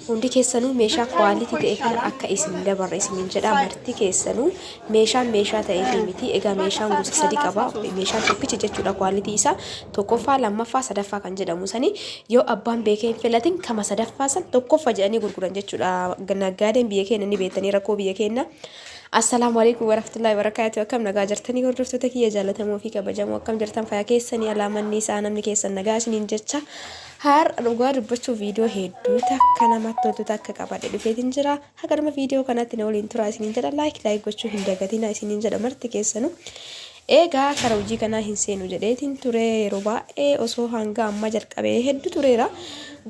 Hundi keessanuu meeshaa quality ta'e kana akka isin dabarre isiniin jedha marti keessanuu meeshaan meeshaa ta'ee fi miti egaa meeshaan gosa sadi qaba meeshaan tokkichi jechuudha quality isaa tokkoffaa lammaffaa sadaffaa kan jedhamu sani yoo abbaan beekee hin filatin kama sadaffaa san tokkoffa jedhanii gurguran jechuudha naggaadeen biyya keenya ni beektanii rakkoo biyya keenya Assalaamu alaikum warahmatullahi wabarakatuh akkam nagaa jirtanii hordoftoota kiyya jaalatamoo fi kabajamoo akkam jirtan fayyaa keessanii alaamanni isaa namni keessan nagaa isiniin jecha Har'a dhugaa dubbachuu viidiyoo hedduu takka namatti toltu takka qabadhe dhufeetiin jira. Haga dhuma viidiyoo kanaatti na waliin turaa isiniin jedha laayik laayik gochuu hin dagatina isiniin jedha marti keessanu. Eegaa kara hojii kanaa hin seenu jedheetiin ture yeroo baay'ee osoo hanga ammaa jalqabee hedduu tureera.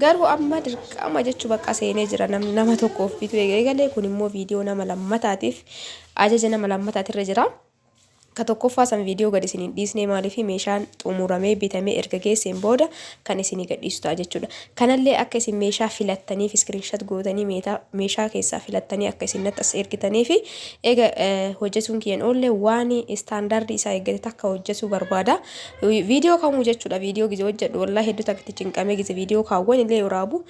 Garuu amma dirqama jechuu bakka seenee jira namni nama tokkoof bituu eegalee kun immoo viidiyoo nama lammataatiif ajaja nama lammataatirra jira. Ka tokkoffaa san video gad isin hin dhiisne maaliif meeshaan xumuramee bitamee erga geesseen booda kan isinii gad dhiisu ta'a jechuudha. Kanallee akka isin meeshaa filattaniif screenshot gootanii meetaa meeshaa keessaa filattanii akka isin natti as ergitaniifi eega hojjetuun kiyyan oolle waan standard isaa eeggate takka hojjetuu barbaada. Video kamuu jechuudha video gize hojjedhu wallahi hedduu takka itti cinqamee gize video kaawwan illee waraabu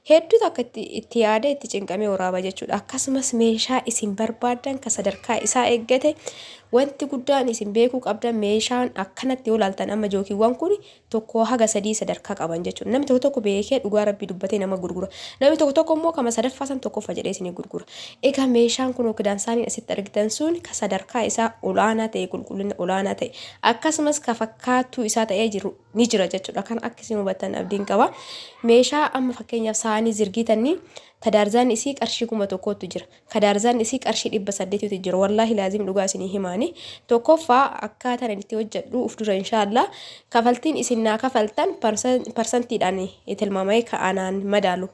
Hedduu takka itti yaadee itti cinqamee waraaba jechuudha. Akkasumas meeshaa isin barbaaddan kan sadarkaa isaa eeggate wanti guddaan isin beekuu qabdan meeshaan akkanatti yoo laaltan amma jookiiwwan kun tokko haga sadii sadarkaa qaban jechuudha. Namni tokko tokko beekee dhugaa rabbii dubbatee nama gurgura. Namni tokko tokko immoo kama sadaffaa san tokkoffa jedhee isin gurgura. Egaa meeshaan kun ookidaan isaanii asitti argitan sun ka sadarkaa isaa olaanaa ta'e qulqullina olaanaa ta'e akkasumas ka fakkaattuu isaa ta'ee jiru ni jira jechuudha. Kan akka isin hubattan abdiin qaba. Meeshaa amma fakkeenyaaf saanii zirgiitannii kadaarzaan isii qarshii kuma tokkootu jira. Kadaarzaan isii qarshii dhibba saddeetitu jira. Wallaahi laazim dhugaa isinii himaani. Tokkoffaa akkaataan ani itti hojjedhu uf dura inshaallah kafaltiin isin naa kafaltan parsantiidhaan tilmaamee ka'anaan madaalu.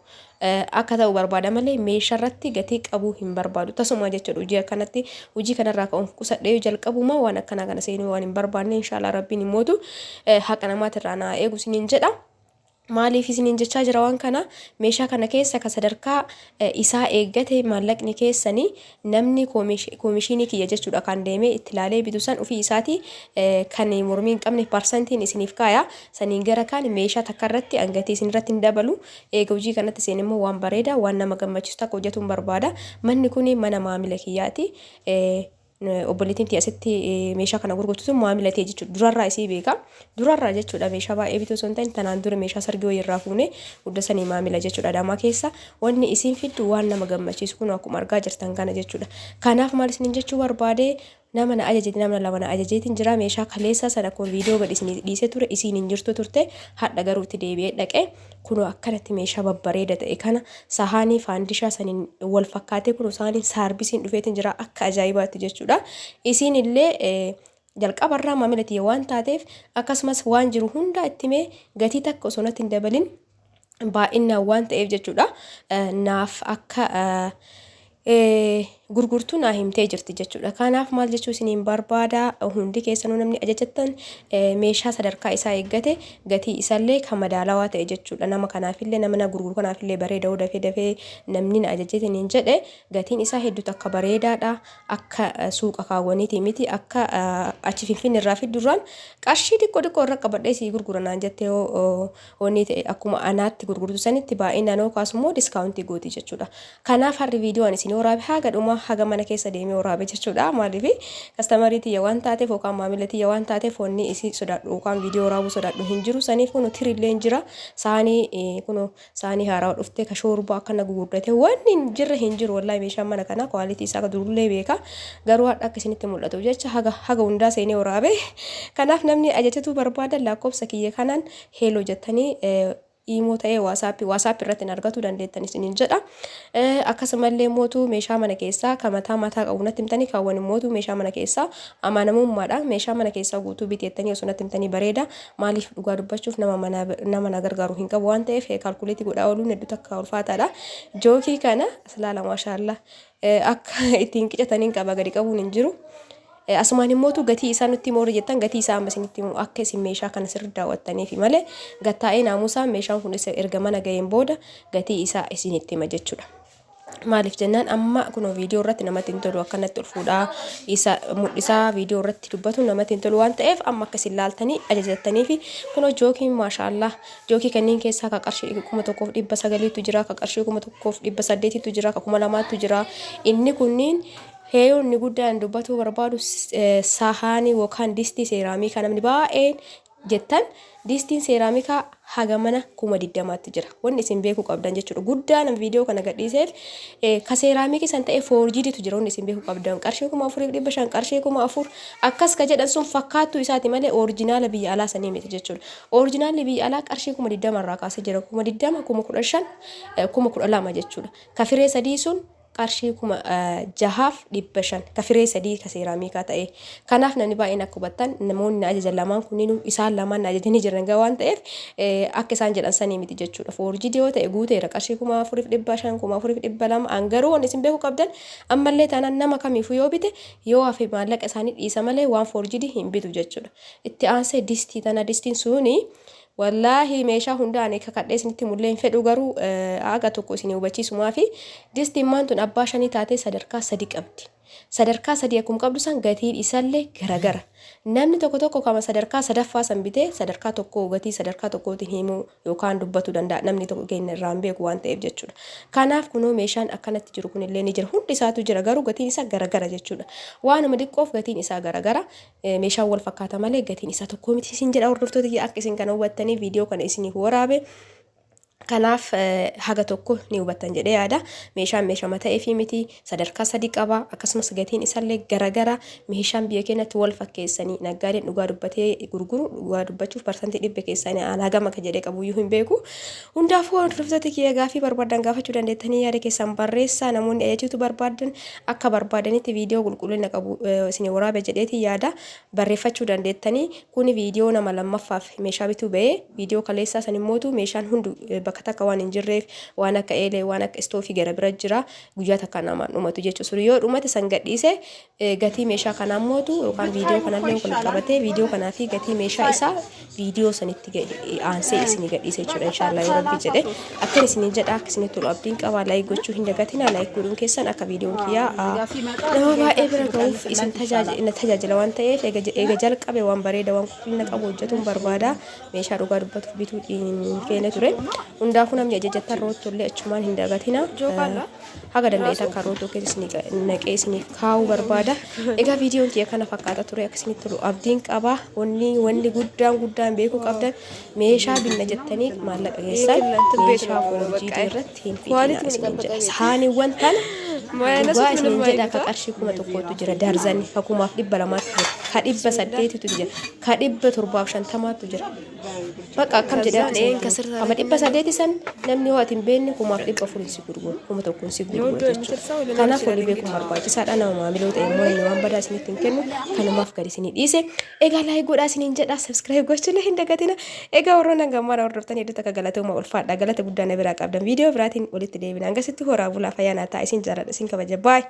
akka ta'u barbaada malee meesharratti gatii qabuu hin barbaadu tasumaa jechuudha hojii akkanatti hojii kanarraa ka'uun qusadhee yoo jalqabumaa waan akkanaa kana seenuu waan hin barbaanne inshaallah rabbiin hin mootu Eh, haqa namaatirraa naa eegu isiniin jedha maaliif isiniin jechaa jira waan kana meeshaa kana keessa ka sadarkaa eh, isaa eeggate maallaqni keessanii Namni komishiinii kiyya jechuudhakaan deemee itti laalee bitu san ufii isaatii kan mormii hin qabne parsantiin isiniif kaaya. Saniin gara kaan meeshaa takka irratti an gatii isin irratti hin dabalu. Eega hojii kanatti seen immoo waan bareeda waan nama gammachiisu takka hojjatuun barbaada. Manni kun mana maamila kiyyaati. Obboleettiin tiyya asitti meeshaa kana gurgurtu sun maamila tiyya jechuudha. Durarraa isii beeka. Durarraa jechuudha meeshaa baay'ee bituu osoo hin ta'in tanaan dura meeshaa sargii wayii irraa fuunee hudda sanii maamila jechuudha adamaa keessa wanni isiin fiddu waan nama gammachiisu kunoo akkuma argaa jirtan kana jechuudha kanaaf maal isinin jechuu barbaade nama na ajajeti nama lama na ajajeetiin jira meeshaa kaleessaa sana kun viidiyoo gad isin dhiisee ture isiin hin jirtu turte hadha garuu itti deebi'ee dhaqe kunoo akkanatti meeshaa babbareeda ta'e kana sahaanii faandishaa saniin wal fakkaatee kunoo sahaanii saarbisiin dhufeetiin jira akka ajaa'ibaatti jechuudha isiin illee Jalqaba irraa maamila tiyya waan taateef akkasumas waan jiru hundaa itti himee gatii takka osoo natti hin dabalin baay'innaan waan ta'eef jechuudha naaf akka gurgurtu naa himtee jirti jechuudha. Kanaaf maal jechuu isiniin barbaada hundi keessanuu namni ajajattan meeshaa sadarkaa isaa eeggate gatii isallee kan madaalawaa ta'e jechuudha. Nama kanaafillee nama na gurguru kanaafillee bareeda dafee dafee namni na ajajeetiin hin jedhe gatiin isaa hedduu takka bareedaadha. akka suuqa kaawwaniitii miti akka achi finfinne irraa fiddurraan qarshii xiqqoo xiqqoo irra qabadhee sii gurgura naan jettee yoo onnii ta'e akkuma anaatti gurgurtu sanitti baay'inaan yoo kaasu immoo diskaawuntii gootii jechuudha. Kanaaf harri viidiyoo ani isin waraabe haga dhumaa haga mana keessa deemee waraabe jechuudha maaliif kastamarii tiyya waan taateef yookaan maamila tiyya waan taateef onnii isii sodaadhu yookaan viidiyoo waraabuu sodaadhu hin jiru saniif kunu tirillee hin jira saanii kunu saanii haarawa dhuftee ka shoorbaa akkana gugurdatee wanni hin jirre hin jiru wallahi meeshaan mana kanaa kwaalitii isaa ka durullee beeka garuu hadha akka isinitti mul'atu jecha haga haga hundaa seenee waraabe kanaaf namni ajajatuu barbaadan lakkoofsa kiyya kanaan heeloo jettanii imoo ta'ee waasaappii waasaappii irratti hin argatu dandeettan isiniin jedha akkasumallee mootu meeshaa mana keessaa ka mataa mataa qabu natti himtanii kaawwan mootu meeshaa mana keessaa amanamummaadha meeshaa mana keessaa guutuu biteettanii osoo natti himtanii bareeda Maaliif dhugaa dubbachuuf nama mana nama na gargaaru hin qabu waan ta'eef kaalkuleetii godhaa ooluun hedduu takka ulfaataadha. Jookii kana aslaala maashaallaa akka ittiin qicataniin qaba gadi qabuun hin jiru. Asumaan himmootu gatii isaa nutti moorri jettan gatii isaa amma isinitti himu akka isin meeshaa kana sirri daawwattaniifi malee gattaa'ee naamusaa meeshaan kun erga mana ga'een booda gatii isaa isinitti hima jechuudha. Maaliif jennaan amma kunoo viidiyoo irratti namatti hin tolu akkanatti ol fuudhaa isa mul'isaa viidiyoo irratti dubbatu namatti hin tolu waan ta'eef amma akka isin laaltanii ajajattanii fi kunoo jookiin maashaallah jookii kanneen keessaa ka qarshii kuma tokkoof dhibba sagaliitu jira ka qarshii kuma tokkoof dhibba saddeetitu jira ka kuma lamaatu jira inni kunniin heeyoonni guddaan dubbatuu barbaadu eh, sahaanii yookaan distii seeraamii kan namni baay'een jettan diistiin seeraamikaa haga mana kuma digdamaatti jira wanni isin beekuu qabdan jechuudha guddaa nama viidiyoo kana gadhiiseef ka seeraamikii san ta'e foorjiiditu jira wanni isin beekuu qabdan qarshii kuma afuriif dhibba shan qarshii kuma afur akkas ka jedhan sun fakkaattuu isaati malee oorjinaala biyya alaa sanii miti jechuudha oorjinaalli biyya alaa qarshii kuma digdama irraa kaasee jira kuma digdama kuma kudha shan kuma kudha lama jechuudha ka firee sadii sun qarshii 6500 ka firee sadii ka seeraamiikaa ta'e. Kanaaf namni baay'een akka hubattan namoonni na ajajan lamaan kunniinuu isaan lamaan na ajajanii jiran egaa waan ta'eef akka isaan jedhan sanii miti jechuudha. Foorjiidii yoo ta'e guuteera qarshii 4500 4200 an garuu wanni isin beekuu qabdan ammallee taanaan nama kamiifuu yoo bite yoo hafe maallaqa isaanii dhiisa malee waan foorjiidii hin bitu jechuudha. Itti aansee distii tana distiin suuni Wallaahi meeshaa hundaa ani kakadhee isinitti himullee hin fedhu garuu aga tokko isinii hubachiisumaafi disti immaan tun abbaa shanii taatee sadarkaa sadi qabdi sadarkaa sadii akkum qabdu san gatiin isalle garagara namni tokko tokko kama sadarkaa sadaffaa san bitee sadarkaa tokkoo gatii sadarkaa tokkootiin himuu yookaan dubbatu danda'a namni tokko keenya irraa hin beeku waan ta'eef jechuudha kanaaf kunoo meeshaan akkanatti jiru kunillee ni jira hundi isaatu jira garuu gatiin isaa garagara jechuudha waanuma diqqoof gatiin isaa garagara Meeshaan wal fakkaata malee gatiin isaa tokkoo miti isin jedha hordoftoota kiyya akka isin kana hubattanii viidiyoo kana isiniif waraabe. Kanaaf haga tokko ni hubattan jedhee yaada. Meeshaan meeshama ta'eefii miti sadarkaa sadii qaba akkasumas gatiin isaallee garagara meeshaan biyya keenyatti wal fakkeessanii naggaadeen dhugaa dubbatee gurguru dhugaa dubbachuuf parsantii dhibba keessaanii aan hagam akka jedhee qabuyyuu hin beeku. Hundaafuu hordoftoota kiyya gaafii barbaadan gaafachuu dandeettanii yaada keessan barreessaa namoonni ajajachuu barbaadan akka barbaadanitti viidiyoo qulqullina qabu isinii waraabe jedheetiin yaada barreeffachuu dandeettanii kuni viidiyoo nama lammaffaaf meeshaa bituu ba'ee viidiyoo kaleessaa san immootu meeshaan hundu bakka takka waan hin jirreef waan akka eelee waan akka istoofii gara bira jira guyyaa takka namaan dhumatu jechuu sun yoo dhumate san gadhiise gatii meeshaa kanaa immootu yookaan viidiyoo kanallee wal qabatee viidiyoo kanaa fi gatii meeshaa isaa viidiyoo sanitti gadi aansee isinii gadhiisa jechuudha inshaallah yoo rabbi jedhe akkan isinii jedha akka isinii tolu abdiin qaba laayik gochuu hin dagatina laayik godhuun keessan akka viidiyoon kiyyaa aa, nama baay'ee bira ga'uuf isin tajaaji- na tajaajila waan ta'eef eega je- eega jalqabe waan bareeda waan qulqullina qabu hojjetuun barbaada meeshaa dhugaa dubbatuuf bituu hin feene ture hundaafuu namni ajajattan roottu illee achumaan hin dagatina. haga danda'eetan kan rootoo keessa isinii qa- naqee isiniif kaa'uu barbaada. Egaa viidiyoon kiyya kana fakkaata ture akka isinitti tolu abdiin qaba. Wanni wanni guddaan guddaan beekuu qabdan meeshaa binna jettanii maallaqa keessan meeshaa foorjiidii irratti hin fixinaa isiniin jedha. Saaniiwwan tana dhugaa isiniin jedha ka qarshii kuma tokkootu jira darzanii ka kumaaf dhibba lamaatu jira ka dhibba saddeetitu jira ka dhibba torbaaf shantamaatu jira. Bakka akkam jedhaa ta'een kama dhibba sadeeti san namni yoo ati hin beekne kumaaf dhibba afuriin si gurguru kuma tokkoon si gurguru jechuudha. Kanaaf wali beekuun barbaachisaadha nama maamiloo ta'e immoo inni waan badaa isinitti hin kennu kanumaaf gadi isinii dhiise. Egaa laayik godhaa isiniin jedhaa sabiskiraayib gochuun hin dagatina. Egaa warroon hanga ammaa hordoftan hedduu takka galatooma ulfaadha galata guddaa na biraa qabdan viidiyoo biraatiin walitti deebina hangasitti horaa bulaa fayyaa naa ta'a isin jaaladha isin kabaja baay'ee.